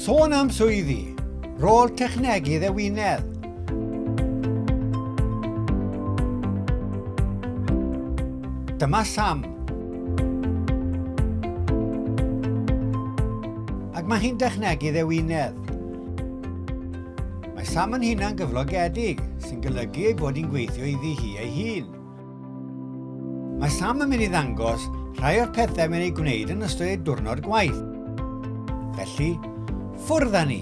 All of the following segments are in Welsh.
Sôn am swyddi, rôl technegydd ewinedd. Dyma Sam. Ac mae hi'n dechnegydd ewinedd. Mae Sam yn hunan gyflogedig, sy'n golygu ei bod hi'n gweithio iddi hi ei hun. Mae Sam yn mynd i ddangos rhai o'r pethau mae'n ei gwneud yn ystod ei diwrnod gwaith. Felly, ffwrdd â ni!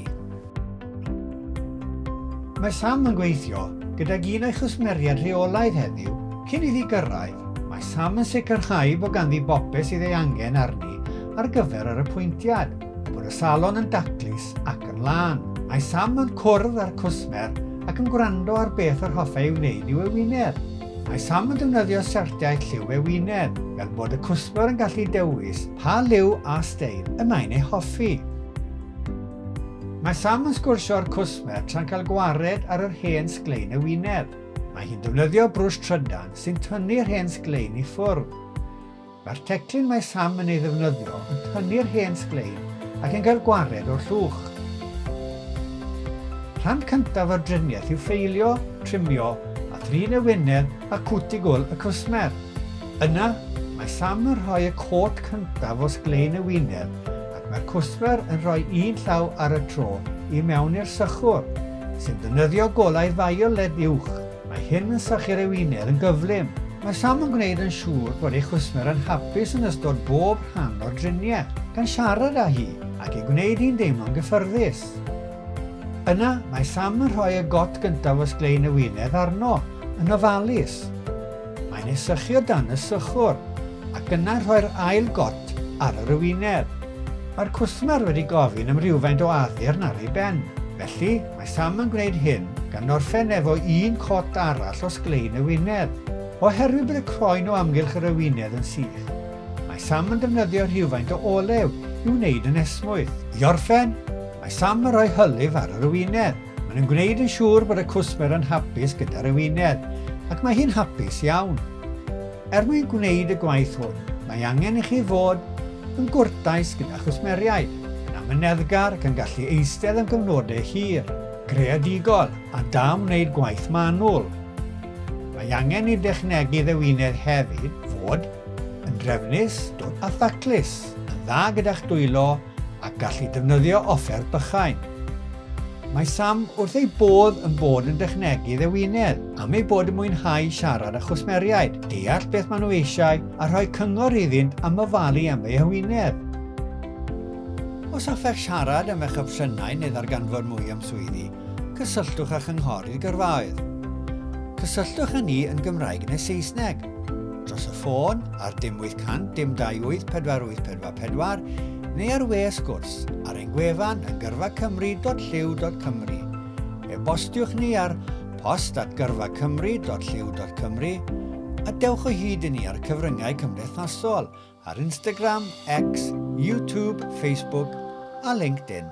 Mae Sam yn gweithio gydag un o'i chwsmeriaid rheolaidd heddiw cyn iddi gyrraedd. Mae Sam yn sicrhau bod ganddi bopeth sydd ei angen arni ar gyfer yr apwyntiad, bod y salon yn daclus ac yn lân. Mae Sam yn cwrdd â'r cwsmer ac yn gwrando ar beth yr hoffai ei wneud i'w ewinedd. Mae Sam yn defnyddio siartiau lliw ewinedd, fel bod y cwsmer yn gallu dewis pa liw a steil y mae'n ei hoffi. Mae Sam yn sgwrsio â'r cwsmer tra'n cael gwared ar yr hen sglein ewinedd. Mae hi'n defnyddio brwsh trydan sy'n tynnu'r hen sglein i ffwrdd. Mae'r teclyn mae Sam yn ei ddefnyddio yn tynnu'r hen sglein ac yn cael gwared o'r llwch. Rhan cyntaf o'r driniaeth yw ffeilio, trimio a thrin y wyneb a cwtigwl y cwsmer. Yna, mae Sam yn rhoi y côt cyntaf o sglein y wyneb ac mae'r cwsmer yn rhoi un llaw ar y tro i mewn i'r sychwr, sy'n defnyddio golau violet uwch. Mae hyn yn sychu'r ewinedd yn gyflym. Mae Sam yn gwneud yn siŵr bod ei chwsmer yn hapus yn ystod bob rhan o'r driniaeth, gan siarad â hi ac ei gwneud hi'n deimlo'n gyffyrddus. Yna, mae Sam yn rhoi y got gyntaf o sglein ewinedd arno, yn ofalus. Mae'n ei sychu o dan y sychwr, ac yna rhoi'r ail got ar yr ewinedd. Mae'r cwsmer wedi gofyn am rywfaint o addurn ar ei ben, felly Mae Sam yn gwneud hyn gan orffen efo un cot arall o sglein y wyneb. Oherwydd bod y croen o amgylch yr ewinedd yn sych, mae Sam yn defnyddio rhywfaint o olew i'w wneud yn esmwyth. I orffen, mae Sam yn rhoi hylif ar yr ewinedd. Maen yn gwneud yn siŵr bod y cwsmer yn hapus gyda'r ewinedd, ac mae hi'n hapus iawn. Er mwyn gwneud y gwaith hwn, mae angen i chi fod yn gwrtais gyda chwsmeriaid, yn amyneddgar ac yn gallu eistedd am gyfnodau hir, creadigol a da am wneud gwaith manwl. Mae angen i dechnegu ddewinedd hefyd fod yn drefnus, dwt a thaclus. yn dda gyda'ch dwylo ac gallu defnyddio offer bychain. Mae Sam wrth ei bodd yn bod yn dechnegu ddewinedd am ei bod yn mwynhau siarad â chwsmeriaid, deall beth maen nhw eisiau a rhoi cyngor iddynt am ofalu am ei hywynedd. Os hoffech siarad am eich opsiynau neu ddarganfod mwy am swyddi, cysylltwch â Chynghorydd Gyrfaoedd. Cysylltwch â ni yn Gymraeg neu Saesneg. dros y ffôn ar dim 800 dim 284844 neu ar we sgwrs ar ein gwefan yn gyrfacymru.llyw.cymru. E-bostiwch ni ar post at gyrfacymru.llyw.cymru a dewch o hyd i ni ar cyfryngau cymdeithasol ar Instagram, X, YouTube, Facebook a LinkedIn.